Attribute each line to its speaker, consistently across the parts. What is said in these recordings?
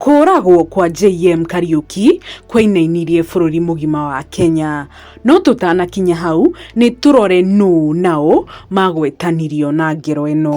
Speaker 1: Kũũragwo kwa JM Kariuki kwainainirie bũrũri mũgima wa Kenya. No tũtanakinya hau, nĩ tũrore nũ na ũ magwetanirio na ngero ĩno.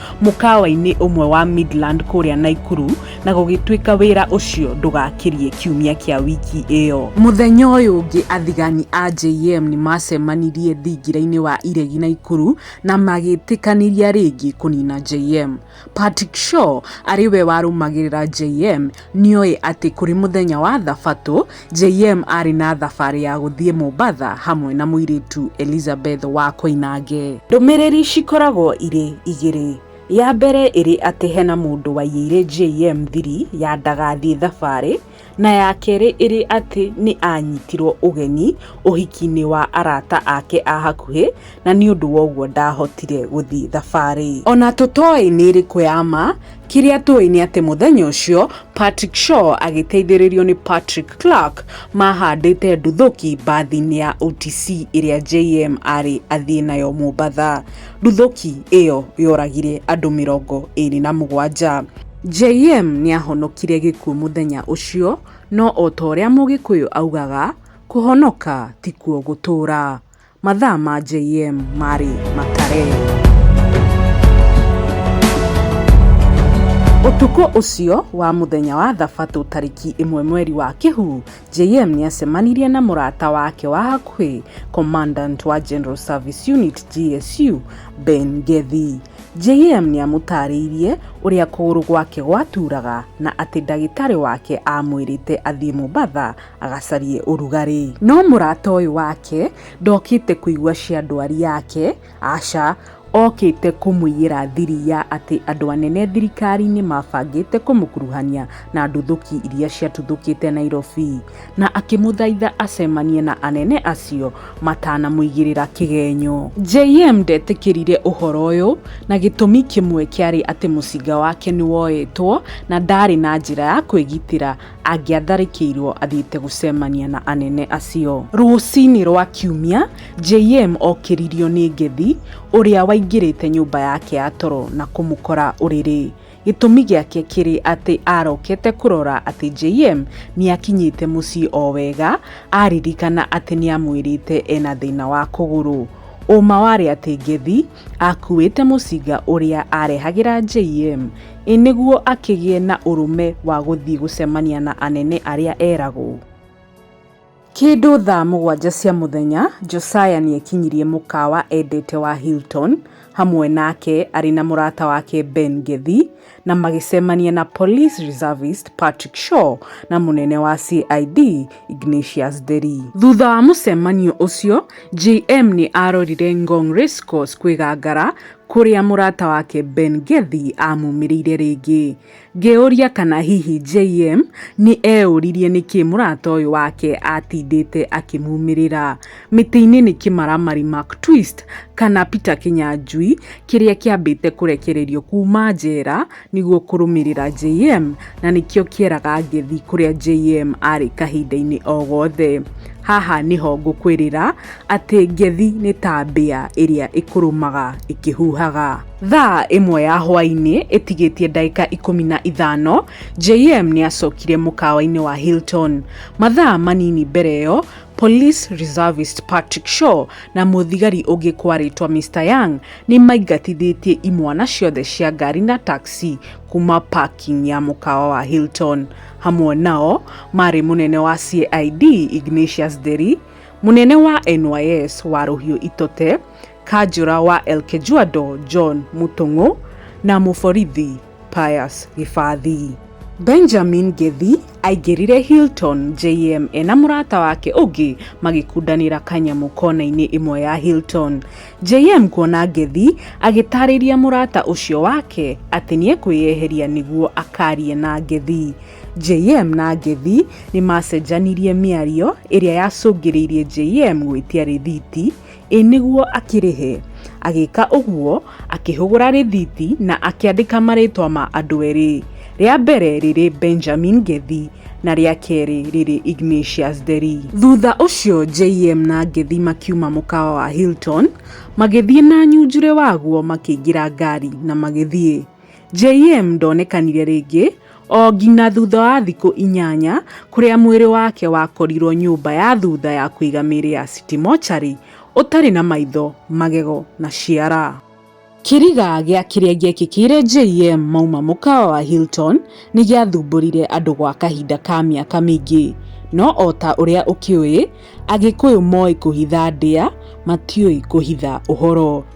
Speaker 1: mũkawa-inĩ ũmwe wa Midland kũrĩa Naikuru na gũgĩtuĩka wĩra ũcio ndũgakirie kiumia kĩa wiki ĩyo. Mũthenya ũyũ ũngĩ athigani a JM nĩ maacemanirie thingira-inĩ wa iregi Naikuru na magĩtĩkanĩria rĩngĩ kũnina JM. Patrick Shaw arĩ we warũmagĩrĩra JM nĩ oĩ atĩ kũrĩ mũthenya wa Thabatũ JM aarĩ na thabarĩ ya gũthiĩ Mombatha hamwe na mũirĩtu Elizabeth wa Koinange. Ndũmĩrĩri cikoragwo irĩ igĩrĩ. Ya mbere ĩrĩ atĩ hena mũndũ waiyĩire JM thiri ya ndagathiĩ thabarĩ na ya kerĩ ĩrĩ atĩ nĩ anyitirwo ũgeni ũhiki-inĩ wa arata ake a hakuhĩ na nĩ ũndũ wa ũguo ndaahotire gũthiĩ thabarĩ. O na tũtoĩ nĩ ĩrĩkũ ya ma, kĩrĩa tũĩ nĩ atĩ mũthenya ũcio Patrick Shaw agĩteithĩrĩrio nĩ Patrick Clark mahandĩte nduthũki mbathi-inĩ ya OTC ĩrĩa JM arĩ athiĩ nayo Mombatha. Nduthũki ĩyo yoragire andũ mĩrongo ĩrĩ na mũgwanja. JM nĩ ahonokire gĩkuũ mũthenya ũcio, no o ta ũrĩa Mũgĩkũyũ augaga, kũhonoka tikuo gũtũũra. Mathaa ma JM maarĩ makare. Ũtukũ ũcio wa mũthenya wa Thabatũ tarĩki ĩmwe mweri wa Kĩhu, JM nĩ acemanirie na mũrata wake wa hakuhĩ, Commandant wa General Service Unit GSU, Ben Gethi. JM nĩ amũtaarĩirie ũrĩa kũgũrũ gwake gwatuuraga na atĩ ndagĩtarĩ wake aamwĩrĩte athiĩ Mombasa agacarie ũrugarĩ. No mũrata ũyũ wake ndokĩte kũigua cia ndwari yake, aca, okĩte kũmũiyĩra thiri ya atĩ andũ anene thirikari-inĩ mabangĩte kũmũkuruhania na nduthũki iria ciatuthũkĩte Nairobi, na akĩmũthaitha acemanie na anene acio matanamũigĩrĩra kĩgenyo. JM ndetĩkĩrire ũhoro ũyũ na gĩtũmi kĩmwe kĩarĩ atĩ mũcinga wake nĩ woetwo na ndaarĩ na njĩra ya kwĩgitĩra angĩatharĩkĩirũo athiĩte gũcemania na anene acio. Rũcinĩ rwa Kiumia, JM okĩririo nĩ Ngethi, ũrĩa waingĩrĩte nyũmba yake ya toro na kũmũkora ũrĩrĩ. Gĩtũmi gĩake kĩrĩ atĩ arokete kũrora atĩ JM nĩ akinyĩte mũciĩ o wega, aririkana atĩ nĩ amwĩrĩte ena thĩna wa kũgũrũ. Ũma warĩ atĩ Ngethi aakuuĩte mũcinga ũrĩa aarehagĩra JM, ĩ nĩguo akĩgĩe na ũrũme wa gũthiĩ gũcemania na anene arĩa eragwo. Kĩndũ thaa mũgwanja cia mũthenya, Josiah nĩ ekinyirie mũkawa endete wa Hilton hamwe nake arĩ na mũrata wake Ben Ngethi, na magĩcemania na Police Reservist Patrick Shaw na mũnene wa CID Ignatius Nderi. Thutha wa mũcemanio ũcio, JM nĩ arorire Ngong Racecourse kwĩgangara kũrĩa mũrata wake Ben Gethi amumĩrĩire rĩngĩ. Ngĩũria kana hihi JM nĩ eũririe nĩkĩ mũrata ũyũ wake atindĩte akĩmumĩrĩra. Mĩtĩ-inĩ nĩ kĩmaramari Mark Twist kana Peter Kĩnyanjui kĩrĩa kĩambĩte kũrekererio kuma njera nĩguo kũrũmĩrĩra JM na nĩkĩo kĩeraga ngethi kũrĩa JM arĩ kahinda-inĩ o gothe. Haha nĩho ngũkwĩrĩra atĩ ngethi nĩ ta mbĩa ĩrĩa ĩkũrũmaga ĩkĩhuhaga. Thaa ĩmwe ya hwainĩ ĩtigĩtie ndagĩka ikũmi na ithano, JM nĩ acokire mũkawa-inĩ wa Hilton. Mathaa manini mbere ĩyo, Police reservist Patrick Shaw na mũthigari ũngĩ kwarĩtwa Mister Young nĩ maingatithĩtie imwana ciothe cia ngari na taxi kuma parking ya mũkawa wa Hilton. Hamwe nao marĩ mũnene wa CID Ignatius Nderi, mũnene wa NYS wa Rũhiũ Itote, kanjũra wa Elkejuado John Mũtũng'ũ na mũborithi Pius Gĩbathii. Benjamin Ngĩthi aingĩrire Hilton JM ena mũrata wake ũngĩ magĩkundanĩra kanyamũ kona-inĩ ĩmwe ya Hilton. JM kuona Ngĩthi agĩtarĩria mũrata ũcio wake atĩ nĩ ekwĩyeheria nĩguo akarie na Ngĩthi. JM na Ngĩthi nĩ macenjanirie mĩario ĩrĩa yacũngĩrĩirie JM gwĩtia rĩthiti Ĩ nĩguo akĩrĩhe? Agĩka ũguo, akĩhũgũra rĩthiti na akĩandĩka marĩĩtwa ma andũ erĩ, rĩa mbere rĩrĩ Benjamin Ngethi na rĩa kerĩ rĩrĩ Ignatius Nderi. Thutha ũcio JM na Ngethi makiuma mũkawa wa Hilton, magĩthiĩ na nyunjurĩ waguo makĩingĩra ngari na magĩthiĩ. JM ndonekanire rĩngĩ o nginya thutha wa thikũ inyanya kũrĩa mwĩrĩ wake wakorirwo nyũmba ya thutha ya kũiga mĩĩrĩ ya City Mortuary ũtarĩ na maitho, magego na ciara. Kĩriga gĩa kĩrĩa gĩekĩkĩire JM mauma mũkawa wa Hilton nĩ gĩathumbũrire andũ gwa kahinda ka mĩaka mĩingĩ. No o ta ũrĩa ũkĩũĩ, Agĩkũyũ moĩ kũhitha ndĩa, matiũĩ kũhitha ũhoro.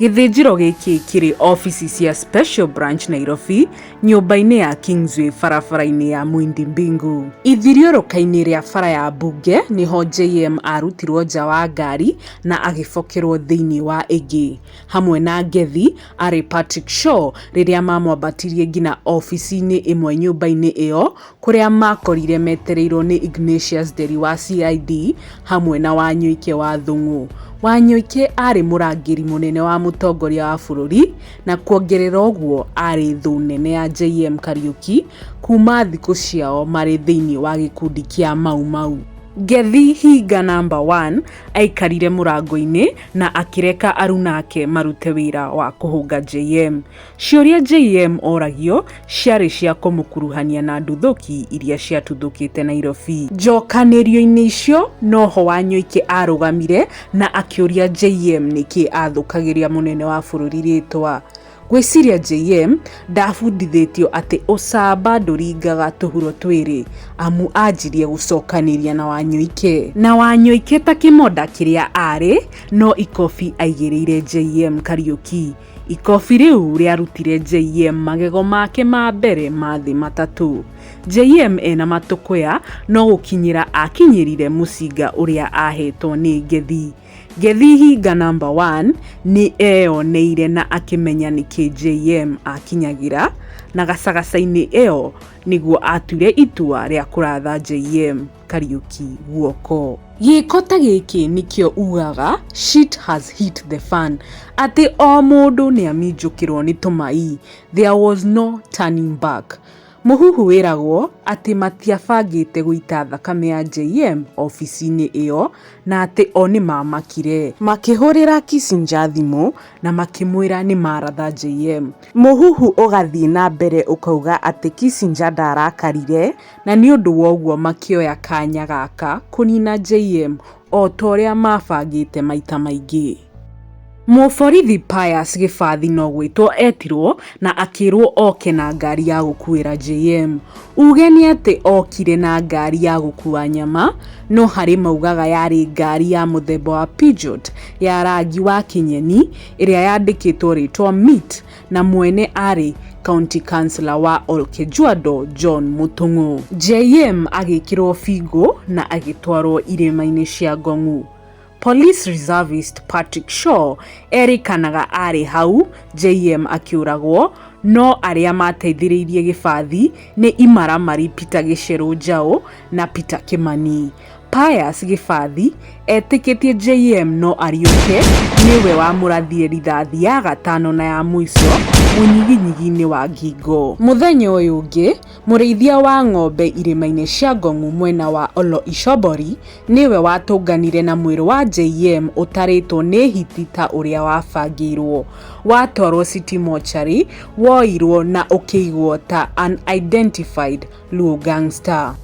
Speaker 1: Gĩthĩnjĩro gĩkĩ kĩrĩ ofici cia Special Branch Nairobi, nyũmba-inĩ ya Kingsway barabara-inĩ ya Mwindi Mbingu. Ithiũrũrũka-inĩ rĩa bara ya Mbunge nĩho JM arutirwo nja wa ngari na agĩbokerwo thĩinĩ wa ĩngĩ. Hamwe na Ngethi arĩ Patrick Shaw rĩrĩa mamwambatirie nginya ofici-inĩ ĩmwe nyũmba-inĩ ĩyo kũrĩa maakorire metereirwo nĩ Ignatius Nderi wa CID hamwe na Wanyũike wa Thũng'ũ. Wanyũike aarĩ mũrangĩri mũnene wa mũtongoria wa bũrũri na kuongerera ũguo aarĩ thũ nene ya JM Kariuki kuuma thikũ ciao marĩ thĩinĩ wa gĩkundi kĩa Mau Mau. Ngethii Hinga Number One aikarire mũrango-inĩ na akĩreka aruna ake marute wĩra wa kũhũnga JM. Ciũria JM oragio ciarĩ cia kũmũkuruhania na nduthũki iria ciatuthũkĩte Nairobi. Njokanĩrio-inĩ icio noho Wanyoike arũgamire na akĩũria JM nĩkĩ athũkagĩria mũnene wa bũrũri rĩtwa. Ngwĩciria JM ndabundithĩtio atĩ ũcamba ndũringaga tũhuro twĩrĩ amu anjirie gũcokanĩria na Wanyoike. Na Wanyoike ta kĩmonda kĩrĩa arĩ no ikobi aigĩrĩire JM Kariuki. Ikobi rĩu rĩarutire JM magego make ma mbere ma thĩ matatũ. JM ena matũkũya no gũkinyĩra akinyĩrire mũcinga ũrĩa ahetwo nĩ Ngethi. Ngethi hinga namba one nĩ eyoneire na akĩmenya nĩkĩ JM akinyagĩra na gacagaca-inĩ ĩyo nĩguo atuire itua rĩa kũratha JM. Kariuki guoko. Gĩko ta gĩkĩ nĩkĩo ugaga shit has hit the fan. Atĩ o mũndũ nĩ aminjũkĩrwo nĩ tũmai. There was no turning back. Mũhuhu wĩragwo atĩ matiabangĩte gũita thakame ya JM ofici-inĩ ĩyo na atĩ o nĩ maamakire. Makĩhũrĩra Kissinger thimũ na makĩmwĩra nĩ maratha JM. Mũhuhu ũgathiĩ na mbere ũkauga atĩ Kissinger ndaarakarire. Na nĩ ũndũ wa ũguo makĩoya kanya gaka kũnina JM o ta ũrĩa maabangĩte maita maingĩ. Mũborithi Pius Gĩbathi no gwĩtwo etirwo na akĩrwo oke na ngari ya gũkuĩra JM. Uge nĩ atĩ okire na ngari ya gũkua nyama, no harĩ maugaga yarĩ ngari ya mũthemba wa Peugeot ya rangi wa kĩnyeni ĩrĩa yandĩkĩtwo rĩtwa Meat. na mwene aarĩ county councillor wa Olkejuado John Mũtũng'ũ. JM agĩkĩrwo bingo na agĩtwarwo irĩma-inĩ cia Ngong'u. Police reservist Patrick Shaw erĩkanaga aarĩ hau JM akĩũragwo no arĩa mateithĩrĩirie gĩbathi nĩ imaramari Peter Gĩcerũ Njaũ na Peter Kĩmani. Pius Gĩbathi etĩkĩtie JM no ariũke nĩwe wamũrathire rithathi ya gatano na ya mũico mũnyiginyigi-inĩ wa ngingo. Mũthenya ũyũ ũngĩ, mũrĩithia wa ng'ombe irĩma-inĩ cia Ngong'u mwena wa Olo Ishobori nĩwe watũnganire na mwĩrĩ wa JM ũtarĩtwo nĩ hiti ta ũrĩa wabangĩirwo. Watwarwo City Mortuary woirwo na ũkĩigwo ta unidentified. Luo Gangster.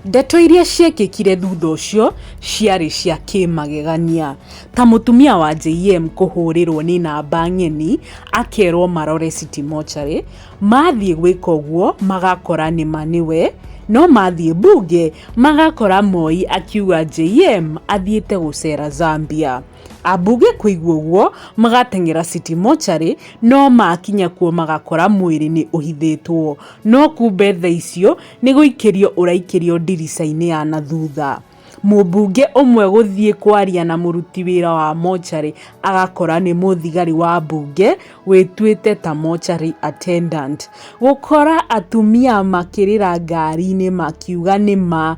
Speaker 1: Ndeto iria ciekĩkire thutha ũcio ciarĩ cia kĩmagegania, ta mũtumia wa JM kũhũrĩrwo nĩ namba ng'eni akerwo marore City Mortuary, mathiĩ gwĩka ũguo magakora nĩma nĩwe, no mathiĩ mbunge magakora Moi akiuga JM athiĩte gũcera Zambia. Ambunge kũigua ũguo magateng'era City Mortuary no makinya kuo magakora mwĩrĩ nĩ ũhithĩtwo. No kumbe tha icio nĩ gũikĩrio ũraikĩrio ndirica-inĩ ya na thutha. Mũmbunge ũmwe gũthiĩ kwaria na mũruti wĩra wa mocarĩ agakora nĩ mũthigari wa mbunge wĩtuĩte ta mocarĩ attendant. Gũkora atumia makĩrĩra ngari-inĩ makiuga nĩ ma.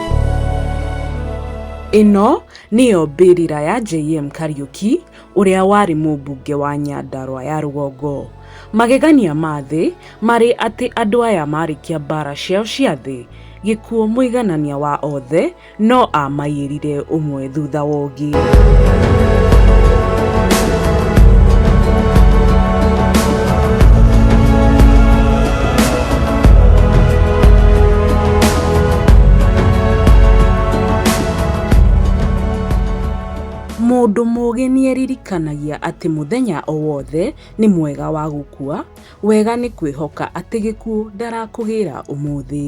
Speaker 1: Ĩno nĩyo mbĩrĩra ya JM Kariuki ũrĩa warĩ mũmbunge wa Nyandarua ya rũgongo. Magegania ma thĩ marĩ atĩ andũ aya marĩkia mbara ciao cia thĩ, gĩkuũ mũiganania wa othe no amaiyĩrire ũmwe wao. thutha wa ũngĩ. Mũndũ mũũgĩ nĩeririkanagia atĩ mũthenya o wothe nĩ mwega wa gũkua, wega nĩ kwĩhoka atĩ gĩkuũ ndarakũgĩra ũmũthĩ.